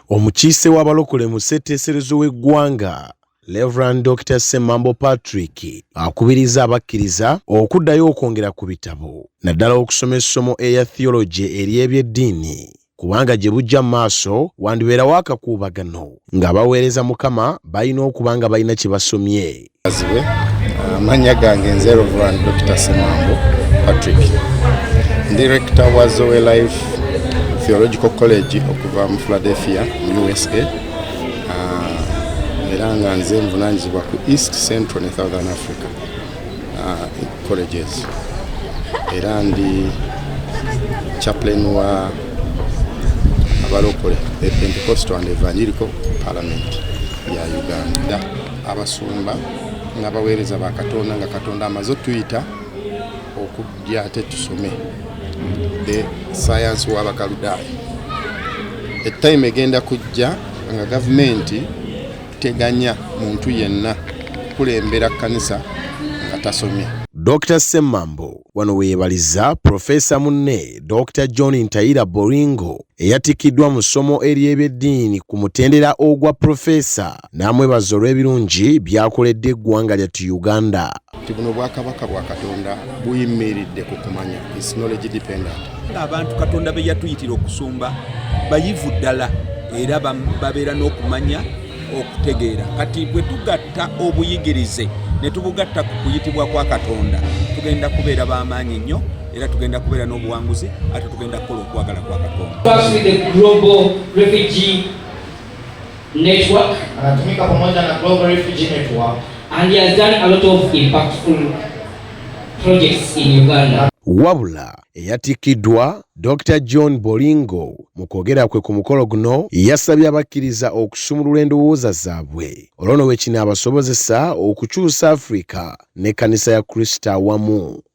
Omukiise w'abalokole mu ssetteeserezo w'eggwanga Reverend Dr. Semambo Patrick akubiriza abakkiriza okuddayo okwongera ku bitabo naddala okusoma essomo eya theology ery'ebyeddiini kubanga gye bujja mu maaso wandibeerawo akakuubagano ng'abaweereza Mukama balina okuba nga balina kye basomye Azibe amannya uh, gange nze Reverend Dr. Semambo Patrick ndi rector wa Zoe Life Theological College okuva mu Philadelphia mu USA uh, era nga nze nvunanyizibwa ku East Central ne Southern Africa uh, colleges era ndi chaplain wa abalokole the Pentecostal and Evangelical Parliament ya Uganda abasumba n'abaweereza ba katonda nga katonda amaze otuyita okujja ate tusome e sayansi w'abakaludaaya etime egenda kujja nga gavumenti teganya muntu yenna kukulembera kkanisa nga tasomye Dr Ssemambo wano weyebaliza Profesa munne Dr John Ntayira Boringo eyatikiddwa mu ssomo ery'ebyeddiini ku mutendera ogwa Profesa n'amwebaza olw'ebirungi byakoledde eggwanga lyattu Uganda. nti buno bwakabaka bwa Katonda buyimiridde ku kumanya is knowledge dependent. Abantu Katonda be yatuyitira okusumba bayivu ddala era babeera n'okumanya okutegeera kati bwe tugatta obuyigirize ne tubugatta ku kuyitibwa kwa Katonda tugenda kubeera b'amaanyi nnyo era tugenda kubeera n'obuwanguzi ate tugenda kukola okwagala kwa Katonda. Network. Anatumika pamoja na Global Refugee Network. And he has done a lot of impactful projects in Uganda. Wabula eyatikiddwa Dr John Bolingo mu kwogera kwe ku mukolo guno yasabye abakkiriza okusumulula endowooza zaabwe olwo ne wekino abasobozesa okukyusa Afrika n'ekkanisa ya Kristo awamu.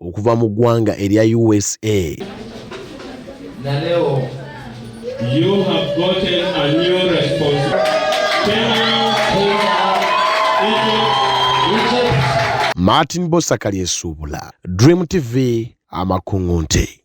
okuva mu ggwanga erya usa martin bosakali esuubula dream tv amakungu nte